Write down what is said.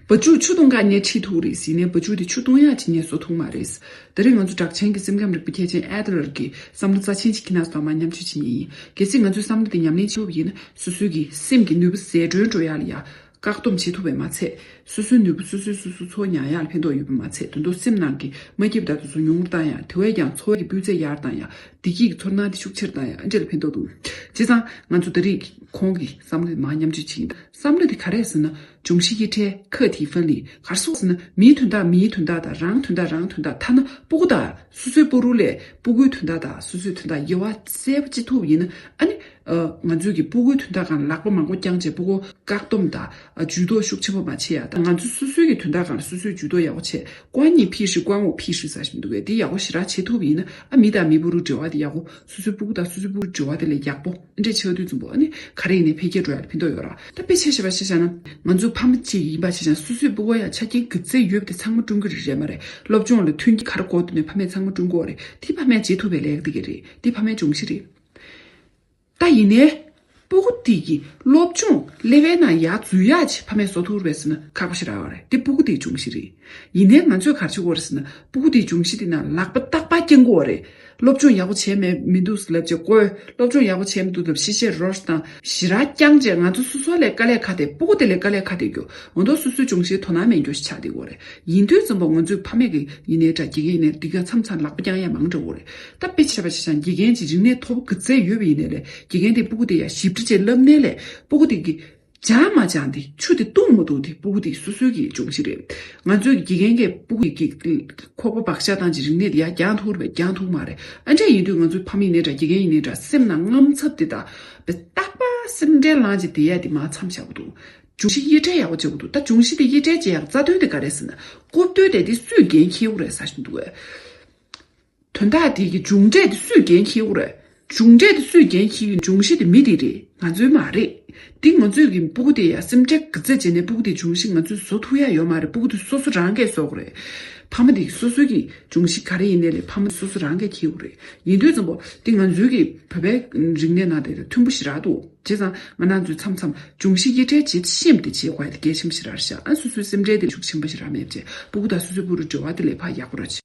བུ་ཕྱུགས་ཆུ་སྟོང་ཀ་ཉེ་ཁྲིས་ཐུག་རེད་ཟེར་ནས་བུ་ཕྱུགས་དེ་ཆུ་སྟོང་ཡག་ཅིག་ཉེས་གསོག་ཐུག་མ་རེད། དེ་རིང་ང་ཚོ་གྲགས་ཆེན་གྱི་སེམས་ཁམས་རིག་པའི་མཁས་ཅན Adler གྱི་བསམ་བློ་རྩ་ཆེན་གྱི་ཁྱི་ནག་སྟག་མ་མཉམ་སྤྱོད་བྱེད་ངེས་ཡིན། གལ་སྲིད་ང་ཚོའི་བསམ་བློ་དེ་ཉམས་ལེན་བྱེད་ཐུབ་ཡིན་ན་སོ་སོའི་གི་སེམས་ཀྱི་ནུས་པ་ཟད་གྲོན་འགྲོ་ཡག་ལ་ཡག། བཀག་སྡོམ་བྱེད་ཐུབ་པས་མ་ཚད། སོ་སོའི་ནུས་པ་སོ་སོས་སོ་སོ་འཚོ་མྱངས་ཡག་ལ་ཕན་ཐོགས་ཡོད་པས་མ་ཚད་དོན་ཐོག་སེམས་ནང་གི་མ་སྐྱིད་པ་དག་ཏུ་ཚོ་ཉུང་ངུར་བཏང་ཡག་དེ་བས་ཀྱང་འཚོ་བ་གྱི་སྤུས་ཚད་ཡར་བཏང་ཡག་བདེ་སྐྱིད་ཀྱི་ཚོར་སྣང་དེ་ཤུགས་ཆེར་བཏང་ཡག་ཨ་འབྲས་ལ་ཕན་ཐོགས་འདུག་བྱས་ཙང་ང་ཚོ་ད་རིགས་ཁོང་གི་བསམ་བློ་དེ་མ་མཉམ་སྤྱོད་བྱེད་ཀྱིན་འདུག། བསམ་བློ་དེ་ག་རེད་ཟེར་ན་འབྱུང་བཞི་དབྱེ་ཕྲལ་ཁ་ཐིའི་ཧྥ་ལི་གར་སོགས་ཟེར་ན་མིའི་དོན་དག་མིའི་དོན་དག་དང་རང་དོན་དག་རང་དོན་དག་ཐ་ན་སྤུ་གུ་དག་སོ་སོའི་སྤུ་རུ་ལས་སྤུ་གུའི་དོན་དག་དག་སོ་སོའི་དོན་དག་དབྱེ་བ་གསལ་པོ་ཅི་ཐུབ་ཡིན་ན་ཨ་ནི། ང་ཚོས་ཀྱི་སྤུ་གུའི་དོན་དག་གང་ལག་པ་མང་པོ་བརྐྱང་བྱས་སྤུ་གུ་བཀག་སྡོམ་དང་ཇུས་གཏོགས་ཤུགས་ཆེན་པོ་མ་བྱས་ཡག་ད་ང་ཚོས་སོ་སོའི་ཀྱི་དོན་དག་གང་ལ་སོ་སོས་ཇུས་གཏོགས་ཡག་པོ་བྱས་ཀོ་ཨ་ཉི་ཕི་ཧྲི་ཀོ་ཨ་ངོ་ཕི་ཧྲི་ཟ་བཞིན་འདུག་གས་དེ་ཡག་པོ་ཞི་རགས་བྱེད་ཐུབ་ཡིན་ན་ཨ་མི་དང་མི་སྤུ་རུ་འབྲེལ་བ་དེ་ཡག་པོ་སོ་སོའི་སྤུ་གུ་དང་སོ་སོའི་སྤུ་རུ་འབྲེལ་བ་དེ་ལས་ཡག་པོ། འདྲའི་ཆེ་བ་དུས་རྩུབ་པོ་ནི་ག་རེ་ཡིན་ནའི་འཕེལ་རྒྱས་འགྲོ་ཡག་ལ་ཕན་ཐོགས་ཡོད་ར། ད་དཔེ་ཆ་ཞེས་པ་ཤེས་བྱ་ན། ང་ཚོའི་ཕ་མ་གཅིག་ཡིན་པ་ཤེས་བྱ་ན་སོ་སོའི་སྤུ་བ་ཡང་ཆ་རྐྱེན་གྱི་རྩེ་ཡོད་དེ་ཚང་མ་ཀྲུང་གོའི་རིགས་རེད་མ་རེད་སློབ་སྦྱོང་ལ་མཐུན་གྱི་གར་སྐོར་དུ་ནས་ཕ་མས་ཚང་མ་ཀྲུང་གོ་བ་རེད་དེ་ཕ་མས་བྱེད་ཐུབ་པའི་ལས་ཀ་དེ་ག་རེད་དེ་ཕ་མའི་སྦྱོང་གཞི་རེད། ད་ཡིན་ནའི། སྤུ་གུ་དེ་གི་སློབ་སྦྱོང་ལེ་ཝལ་ན་ཡག་རྫུན་ཡག་ཅེས་ཕ་མས་བཟོ་ཐུབ་བས་ཟེར་ན་ཁག་པོ་ཞིག་རག་བ་རེད་དེ་སྤུ་གུ་དེའི་སྦྱོང་གཞི་རེད། ཡིན་ནའི་ང་ཚོས་གར་བྱེད་དགོས་རེད་ཟེར་ན་སྤུ་གུ་དེའི་སྦྱོང་གཞི་དེ་ན་ལག་པ་རྟག་པར་སྐྱེ་འགོ་བ་རེད། སློབ་སྦྱོང་ཡག་པོ་བྱས་མེད་མི་འདུག་ཟེར་ལབ་ཅེས་བཀོལ། སློབ་སྦྱོང་ཡག་པོ་བྱས་མི་འདུག་ལབ་ཤེས་བྱའི་རོར་དང། གཞི་རགས་རྐྱང་བཅས་ང་ཚོ་སོ་སོ་ལས་དཀའ་ལས་ཁ་དེ་སྤོ་གོ་དེ་ལས་དཀའ་ལས་ཁ་དེ་རྒྱོ་ང་མདོག་སོ་སོའི་སྦྱོང་བྱེད་དོ་སྣང་མེད་འགྱོ་ཞིག་ཆགས་འདི་གོ་རེད་ཡིན་དུས་རྩོམ་པ་ངོ་ཚོས་ཕ་མེས་ཀྱི་ཡིན་ནའི་འདྲ་དགེ་རྒན་ཡིན་ནའི་འདི་ག་མཚམས་མཚམས་ལག་པ་རྐྱང་ཡ་མང་འདྲ་བོ་རེད་ད་དཔེ་བྱས་པ་ཆེ་ཆང་དགེ་རྒན་གྱི་རིག་གནས་ཐོབ་གི་ཚད་ཡོད་པ་ཡིན་ནའི་ལས་དགེ་རྒན་དེ་སྤོ་གོ་དེ་ཡ་ཞིབ་ཕྲ་བཅས་ལབ་ནའི་ལས་སྤོ་གོ་དེ་གི་སྦྱང་མ་སྦྱང་དེ་ཆུ་དེ་བཏུང་མ་བཏུང་དེ་སྤུ་གུ་དེ་སོ་སོའི་གི་འབྱུང་གཞི་རེད། ང་ཚོའི་གི་དགེ་རྒན་གི་སྤུ་གུ་ཡི་གི་ཁོག་པ་བག་ཤ་དང་གི་རིག་གནས་དེ་ཡ་རྒྱང་ཐུག་རེད་པས་རྒྱང་ཐུག་མ་རེད་ཨ་འདྲས་ཡིན་དུས་ང་ཚོའི་ཕ་མ་ཡིན་ནའི་འདྲ་དགེ་རྒན་ཡིན་ནའི་འདྲ་སེམས་ནང་རྔམ་ཚབ་དེ་དག་པས་རྟག་པ་སེམས་ཁྲལ་ལངས་ཀྱི་དེ་ཡ་དེ་མ་འཚམ་བྱ་གོ་འདུག་འབྱུང་གཞི་དབྱེ་ཁྲལ་ཡག་པོ་བྱེད་གོ་འདུག་ད་འབྱུང་གཞི་དེ་དབྱེ་ཁྲལ་བྱེད་ཡག་རྩ་དོན་དེ་ག་རེད་ཟེར་ན་རྐུབ་སྟོད་དེ་དེ་སུས་འགན་འཁྱེར་རྒྱུ་རེད་ཟ་བཞིན་འདུག། དོན་དག་དེ་གི་འབྱུང་འབྲས་དེ་སུས་འགན་འཁྱེར་བོ་རེད། འབྱུང་འབྲས་དེ་སུས་འགན་འཁྱེར་གི་འབྱུང་གཞི་དེ་མི་དེ་རེད་ང་ཚོའི་མ་རེད། འདི་ང་ཚོས་གི་སྤུ་གུ་དེ་ཡ་སེམས་ཁྲལ་གི་རྩེད་བྱེད་ནས་སྤུ་གུ་དེ་འབྱུང་གཞི་ང་ཚོས་བཟོ་ཐུབ་ཡ་ཡོད་མ་རེད་སྤུ་གུ་དེ་སོ་སོ་རང་གས་བཟོ་གི་རེད། ཕ་མ་དེ་གི་སོ་སོའི་གི་འབྱུང་གཞི་ག་རེ་ཡིན་ནས་ལས་ཕ་མ་སོ་སོ་རང་གས་འཁྱེར་བོ་རེད་ཡིན་དུས་ཙམ་པོ་དེ་ང་ཚོའི་གི་བོད་པའི་རིག་གནས་ནང་དེ་མཐུན་པོ་ཞིག་རག་འདུག། བྱས་ཙང་ང་ནང་ཚུད་མཚམས་མཚམས་འབྱུང་བཞི་ཡེ་གྲལ་བྱེད་བཤེམས་ཏེ་བྱེད་དགོས་ཡ་དེ་རྒྱལ་ཆེན་པོ་ཞེས་རར་བཞག་ཨ་སུ་སུའི་སེམས་ཁྲལ་དེ་ཤུགས་ཆེན་པོ་ཞེས་རར་མེད་བྱས་སྤུ་གུ་དང་སུ་སུའི་སྤུ་རུ་འབྲེལ་བ་དེ་ལས་ཕ་ཡག་པོ་ར་བྱས།